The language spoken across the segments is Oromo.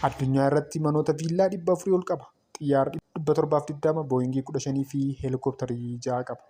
Addunyaa irratti manoota viillaa 400 ol qaba. Xiyyaara 720, Booyingii 15 fi heelikooptarii 6 qaba.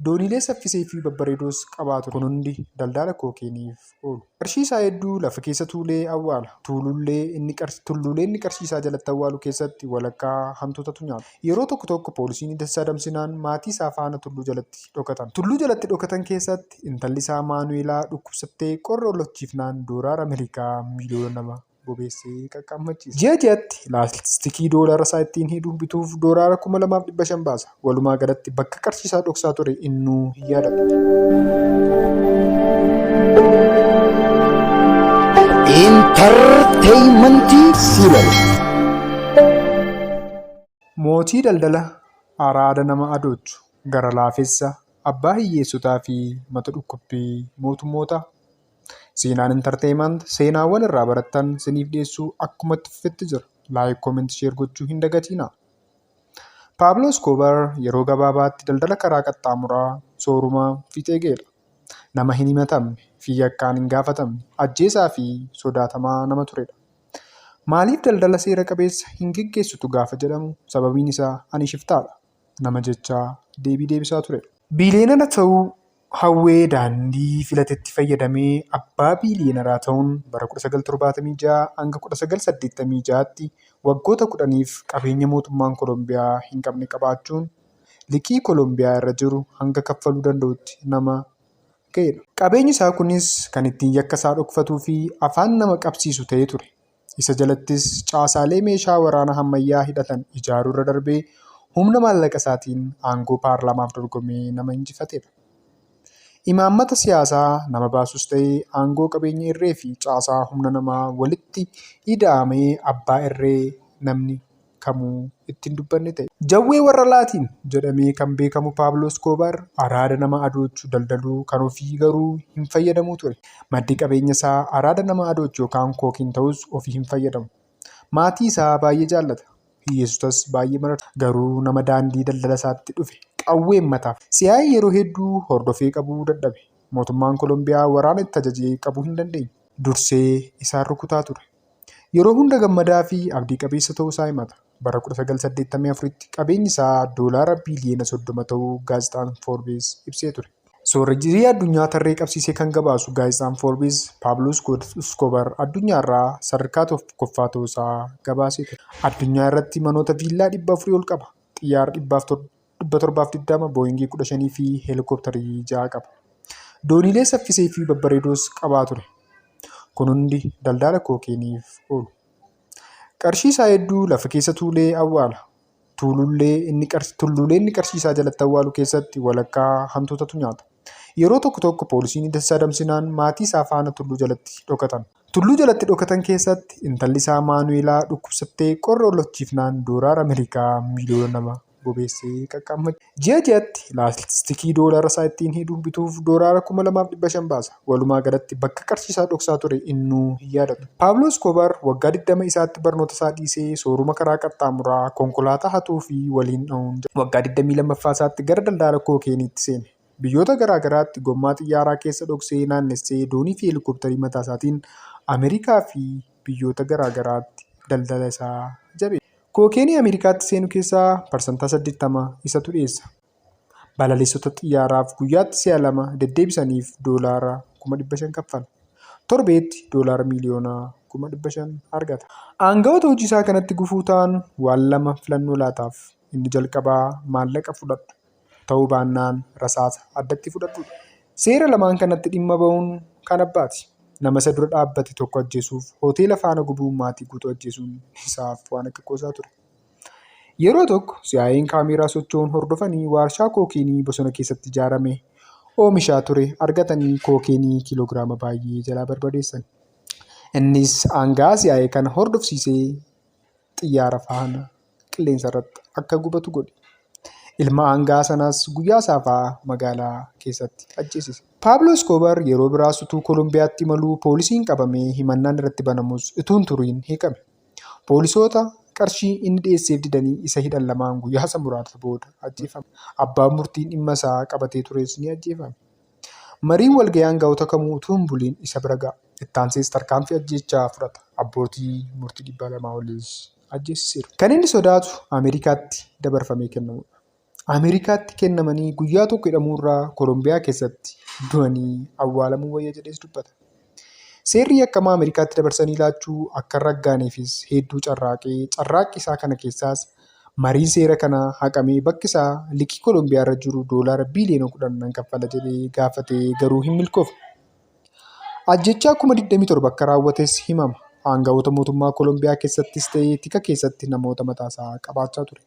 Dooniilee saffisee fi babbareedoos qabaa ture. Kun hundi daldaala kookeeniif oolu. Qarshii isaa hedduu lafa keessa tuulee awwaala. Tuulullee inni qarshii tulluulee inni qarshii isaa jalatti awwaalu keessatti walakkaa hantuutatu nyaata. Yeroo tokko tokko poolisiin ija isaa damsinaan maatii isaa faana tulluu jalatti dhokatan. Tulluu jalatti dhokatan keessatti intalli isaa Maanuweelaa dhukkubsattee qorra ollochiifnaan doolaara Amerikaa miiliyoona 2. bobeessee qaqqaammachiisa. Ji'a ji'atti laastikii doolaara isaa ittiin hidhu bituuf doolaara 2,500 baasa. Walumaa galatti bakka qarshii isaa dhoksaa ture innuu hin yaadatu. Intarteeymantii Siibal. Mootii daldala araada nama adoochu, gara laafessa, abbaa hiyyeessotaa fi mata dhukkubbii mootummootaa. Seenaan Entertainment seenaawwan irraa barattan siniif dhiyeessuu akkuma itti fufetti jira. Like, comment, share gochuu hin dagatiina. Paablo Escobar yeroo gabaabaatti daldala karaa qaxxaamuraa sooruma fiixee ga'edha. Nama hin himatamne fi yakkaan hin gaafatamne, ajjeesaa fi sodaatamaa nama turedha. Maaliif daldala seera qabeessa hin geggeessitu gaafa jedhamu sababiin isaa ani shiftaadha nama jechaa deebii deebisaa turedha. Biiliyeenara ta'uu Hawwee Daandii filatetti fayyadamee abbaa biiliyeenaraa ta'uun bara 1976-1986tti waggoota kudhaniif qabeenya mootummaan Kolombiyaa hin qabne qabaachuun liqii Kolombiyaa irra jiru hanga kaffaluu danda'utti nama ga'edha. Qabeenyi isaa kunis kan ittiin yakka isaa dhokfatuu fi afaan nama qabsiisu ta'ee ture. Isa jalattis caasaalee meeshaa waraanaa hammayyaa hidhatan ijaaruurra darbee humna maallaqa isaatiin aangoo paarlaamaaf dorgomee nama injifatedha. Imaammata siyaasaa nama baasus ta'e aangoo qabeenya irreefi caasaa humna namaa walitti ida'amee abbaa irree namni kamuu itti hin dubbanne ta'e. Jawwee warra Laatiin jedhamee kan beekamu Paablo Eskoobaar araada nama adoochu daldaluu kan ofii garuu hin fayyadamuu ture. Maddi qabeenya isaa araada nama adoochu yookaan kookiin ta'us ofii hin fayyadamu. Maatii isaa baay'ee jaallata. Hiyyeessotas baay'ee mararsa. Garuu nama daandii daldala isaatti dhufe qawween mataaf. CIA yeroo hedduu hordofee qabuu dadhabe. Mootummaan Kolombiyaa waraana itti ajajee qabuu hin dandeenye. Dursee isaan rukutaa ture. Yeroo hunda gammadaa fi abdii qabeessa ta'uu isaa himata. Bara 1984tti qabeenyi isaa doolaara biiliyoona 30 ta'uu gaazexaan Forbes ibsee ture. Soorejjii addunyaa tarree qabsiisee kan gabaasu gaazexaan Forbes, Pablo Escobar addunyaa irraa sadarkaa tokkoffaa ta'uu isaa gabaasee ture. Addunyaa irratti manoota viillaa 400 ol qaba. Xiyyaara 720, Booyingii 15 fi heelikooptarii 6 qaba. Dooniilee saffisee fi babbareedoos qabaa ture. Kun hundi daldaala kookeeniif oolu. Qarshii isaa hedduu lafa keessa tuulee awwaala. Tuulullee inni qarsh- Tulluulee inni qarshii isaa jalatti awwaalu keessatti walakkaa hantuutatu nyaata. Yeroo tokko tokko poolisiin isa adamsinaan maatii isaa faana tulluu jalatti dhokatan. Tulluu jalatti dhokatan keessatti intalli isaa Maanuweelaa dhukkubsattee qorra ollochiifnaan doolaara Ameerikaa miiliyoona lama bobeessee qaqqaammacha. Ji'a ji'atti laastikii doolaara isaa ittiin hidhu bituuf doolaara kuma lamaaf dhibba shan baasa. Walumaa galatti bakka qarshii isaa dhoksaa ture innuu hin yaadatu. Paablo Escobar waggaa digdama isaatti barnoota isaa dhiisee sooruma karaa qaxxaamuraa, konkolaataa hatuu fi waliin dha'uun jiraata. Waggaa digdamii lammaffaa isaatti gara daldaala kookeeniitti seene. biyyoota garaa garaatti gommaa xiyyaaraa keessa dhoksee naannessee doonii fi helikoptarii mataa isaatiin Ameerikaa fi biyyoota garaa garaatti daldala isaa jabeessa. Kookeenii Ameerikaatti seenu keessaa parsantaa 80 isatu dhiyeessa. Balaliistota xiyyaaraaf guyyaatti si'a lama deddeebisaniif doolaara 500,000 kaffala. Torbeetti doolaara miiliyoona 500,000 argata. Aanga'oota hojii isaa kanatti gufuu ta'an waan lama filannoo laataaf. Inni jalqabaa maallaqa fudhadhu. ta'uu baannaan rasaasa addatti fudhadhuudha. Seera lamaan kanatti dhimma ba'uun kan abbaati. Nama isa dura dhaabbate tokko ajjeesuuf hoteela faana gubuun maatii guutuu ajjeesuun isaaf waan akka qoosaa ture. Yeroo tokko si'aayeen kaameeraa socho'uun hordofanii waarshaa kookeenii bosona keessatti ijaarame oomishaa ture argatanii kookeenii kiiloogiraama baay'ee jalaa barbadeessan. Innis aangaa si'aayee kana hordofsiisee xiyyaara faana qilleensa irratti akka gubatu godhi. Ilma aanga'aa sanaas guyyaa saafaa magaalaa keessatti ajjeesise. Paablo Eskoobar yeroo biraas utuu Kolombiyaatti imaluu poolisiin qabamee himannaan irratti banamus utuu hin turiin hiikame. Poolisoota qarshii inni dhiyeesseef didanii isa hidhan lamaan guyyaasa muraasa booda ajjeefame. Abbaan murtii dhimma isaa qabatee tures ni ajjeefame. Mariin walga'ii aanga'oota kamuu utuu hin buliin isa bira ga'a. Ittaansees tarkaanfii ajjeechaa fudhata. Abbootii murtii 200 oliis ajjeesisaniiru. Kan inni sodaatu Ameerikaatti dabarfamee kennamuudha. Ameerikaatti kennamanii guyyaa tokko hidhamuurraa Kolombiyaa keessatti du'anii awwaalamuu wayya jedhees dubbata. Seerri yakkamaa Ameerikaatti dabarsanii laachuu akka hin raggaaneefis hedduu carraaqee carraaqqii isaa kana keessaas mariin seera kanaa haqamee bakki isaa liqii Kolombiyaarra jiru doolaara biiliyoona 10 nan kaffala jedhee gaafatee garuu hin milkoofne. Ajjechaa kuma 27 akka raawwates himama. Aanga'oota mootummaa Kolombiyaa keessattis ta'ee tika keessatti namoota mataasaa qabaachaa ture.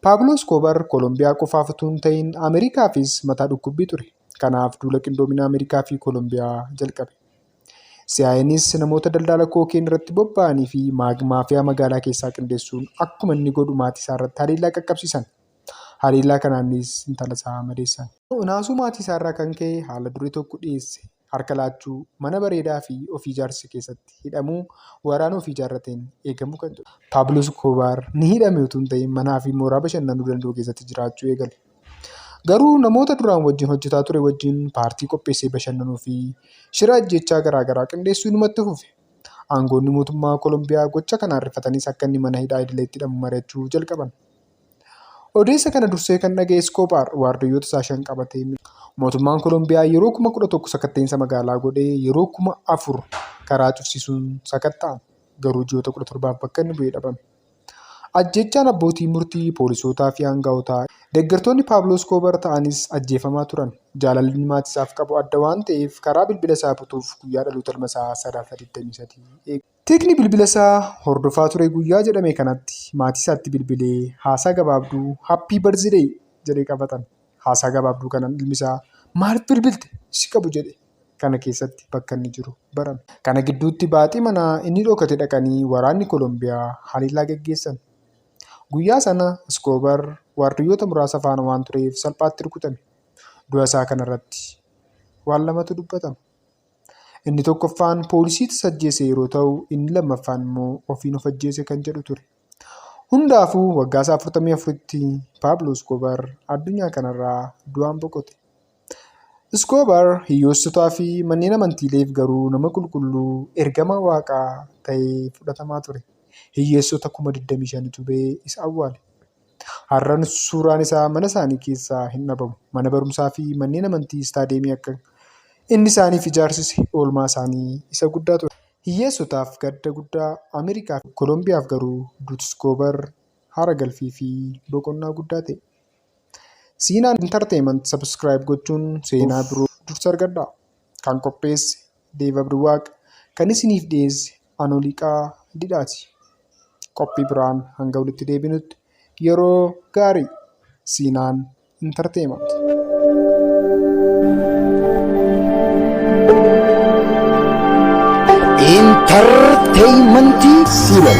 Paablo Escobar Kolombiyaa qofaaf utuu hin ta'in Ameerikaafis mataa dhukkubbii ture. Kanaaf duula qindoomina Ameerikaa fi Kolombiyaa jalqabe. CIA'nis namoota daldala kookeen irratti bobba'anii fi maafiyaa magaalaa keessaa qindeessuun akkuma inni godhu maatii isaa irratti haleellaa qaqqabsiisan. Haleellaa kanaanis intalasaa madeessan. Naasuu maatiisaarraa kan ka'e haala duree tokko dhiyeesse. Harka laachuu, mana bareedaafi ofii ijaarse keessatti hidhamuu, waraana ofii ijaarrateen eegamuu kan jedhu. Paablo Iskoobaar ni hidhame utuu hin ta'in manaafi mooraa bashannanuu danda'u keessatti jiraachuu eegale. Garuu namoota duraan wajjin hojjetaa ture wajjin paartii qopheessee bashannanuufi shira ajjeechaa garaa garaa qindeessuu inumatti fufe. Aangoonni mootummaa Kolombiyaa gocha kanaan rifatanis akka inni mana hidhaa idileetti hidhamu mari'achuu jalqaban. Odeessa kana dursee kan dhaga'e Iskoobaar waardiyyoota isaa shan qabatee Mootummaan Kolombiyaa yeroo kuma kudha tokko sakatta'insa magaalaa godhee yeroo kuma afur karaa cufsiisuun sakatta'an. Garuu ji'oota kudha torbaaf bakka inni bu'ee dhabame. Ajjeechaan abbootii murtii, poolisootaa fi aanga'ootaa deeggartoonni Paabloo Iskoobar ta'anis ajjeefamaa turan. Jaalalli inni maatii isaaf qabu adda waan ta'eef karaa bilbila isaa butuuf guyyaa dhaloota ilma isaa sadaasa 23 eegu. Tikni bilbilasaa hordofaa ture guyyaa jedhame kanatti maatiisaatti bilbilee haasaa gabaabduu happy birthday jedhee qabatame. Haasaa gabaabduu kanan ilmisaa maaliif bilbilte si qabu jedhe kana keessatti bakka inni jiru barame. Kana gidduutti baaxii manaa inni dhokate dhaqanii waraanni Kolombiyaa haleellaa gaggeessan. Guyyaa sana Iskoobar waardiyyoota muraasa faana waan tureef salphaatti rukutame. Du'a isaa kanarratti waan lamatu dubbatama. Inni tokkoffaan poolisii tasa ajjeese yeroo ta'u inni lammaffaan immoo ofiin of ajjeese kan jedhu ture. Hundaafuu waggaasaa 44tti Paablo Iskoobar addunyaa kanarraa du'aan boqote. Iskoobar hiyyoossotaa fi manneen amantiileef garuu nama qulqulluu ergamaa waaqaa ta'ee fudhatamaa ture. Hiyyeessota kuma 25tu ba'ee isa awwaale. Har'an suuraan isaa mana isaanii keessaa hin dhabamu. Mana barumsaa fi manneen amantii istaadiyeemii akka inni isaaniif ijaarsise oolmaa isaanii isa guddaa ture. Hiyyeessotaaf gadda guddaa, Ameerikaa fi Kolombiyaaf garuu Duutskoobar haara galfii fi boqonnaa guddaa ta'e. Siinaan Entertainment subscribe gochuun seenaa biroo dursa argadhaa. Kan qopheesse Deev Abduwaaq, kan isiniif dhiyeesse Anoliiqaa didhaati. Qophii biraan hanga walitti deebinutti yeroo gaarii Siinaan Entertainment. Entertainment Siinan.